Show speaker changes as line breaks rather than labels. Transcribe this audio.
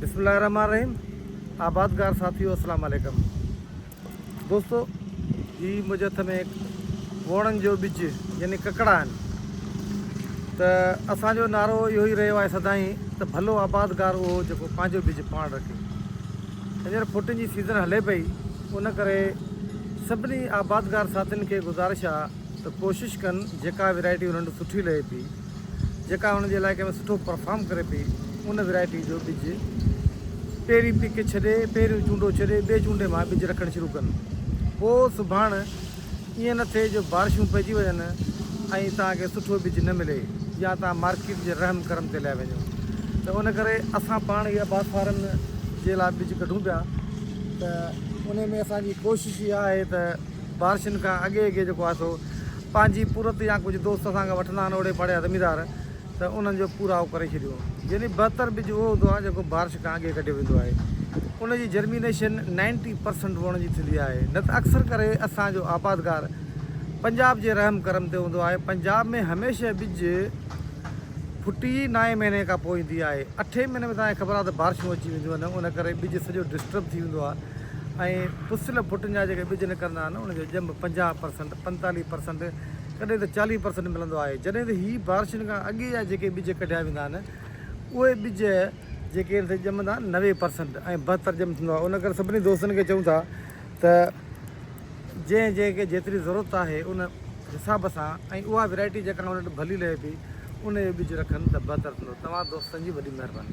بسم الله الرحمن الرحيم آبادگار ساٿيو السلام عليڪم دوستو هي منهنجي هٿ ۾ ووڻن جو ٻج يعني ڪڪڙا آهن ته اسان جو نعرو اهو ئي رهيو آهي سدائين ته ڀلو آبادگار اهو جيڪو پنهنجو ٻج پاڻ رکي هينئر ڦٽن جي سيزن هلي پئي ان ڪري سڀني آبادگار ساٿين کي گذارش آهي ته ڪوشش ڪن جيڪا ويرائٽي انهن سٺي لهي پئي جيڪا ان جي علائقي ۾ سٺو پرفارم ڪري پئي ان ورائٽي جو ٻج پهرين پڪ ڇڏي پهريون چونڊو ڇڏي ٻئي چونڊي مان ٻج رکڻ شروع ڪن پوء سڀاڻ ائين نه ٿئي جو بارشون پئجي وڃن ۽ توهان کي سٺو ٻج نه ملي يا توهان مارڪيٽ جي رحم ڪرم تي لهي وڃو ته ان ڪري اسان پاڻ اها باغ فارم جي لاء ٻج ڪڍون پيا ته ان ۾ اسان جي ڪوشش اها آهي ته بارشن کان اڳي اڳي جيڪو آهي سو پنهنجي پورت يا ڪجهه دوست اسان کان وٺندا آهن اوڙي پاڙي جا زميندار ته انهن جو پورائو ڪري ڇڏيو. يعني بهتر ٻج اهو هوندو آهي جيڪو بارش کان اڳي ڪڍيو ويندو آهي. ان جي جرمينيشن نائنٽي پرسنٽ وڻ جي ٿيندي آهي. نه ته اڪثر ڪري اسان جو آبادگار پنجاب جي رحم ڪرم تي هوندو آهي. پنجاب ۾ هميشه ٻج ڦٽي ئي نائين مهيني کان پوء ايندي آهي. اٺين مهيني ۾ توهان کي خبر آهي ته بارشون اچي وينديون آهن ان ڪري ٻج سڄو ڊسٽرب ٿي ويندو آهي. ۽ پسيل ڀٽن جا جيڪي ٻج نڪرندا آهن انهن جو ڄنڀ پنجاهه پرسنٽ، پنتاليهه پرسنٽ ڪڏهن ته چاليهه پرسنٽ ملندو آهي جڏهن ته هي بارشن کان اڳي جا جيڪي ٻج ڪڍيا ويندا آهن اهي ٻج جيڪي آهن سي ڄمندا آهن نوي پرسنٽ ۽ بهتر ڄم ٿيندو آهي ان ڪري سڀني دوستن کي چئون ٿا ته جنهن جنهن کي جيتري ضرورت آهي ان حساب سان ۽ اها ويرائٽي جيڪا ان وٽ ڀلي لهي ٿي ان جو ٻج رکن ته بهتر ٿيندو توهان دوستن جي وڏي مهرباني.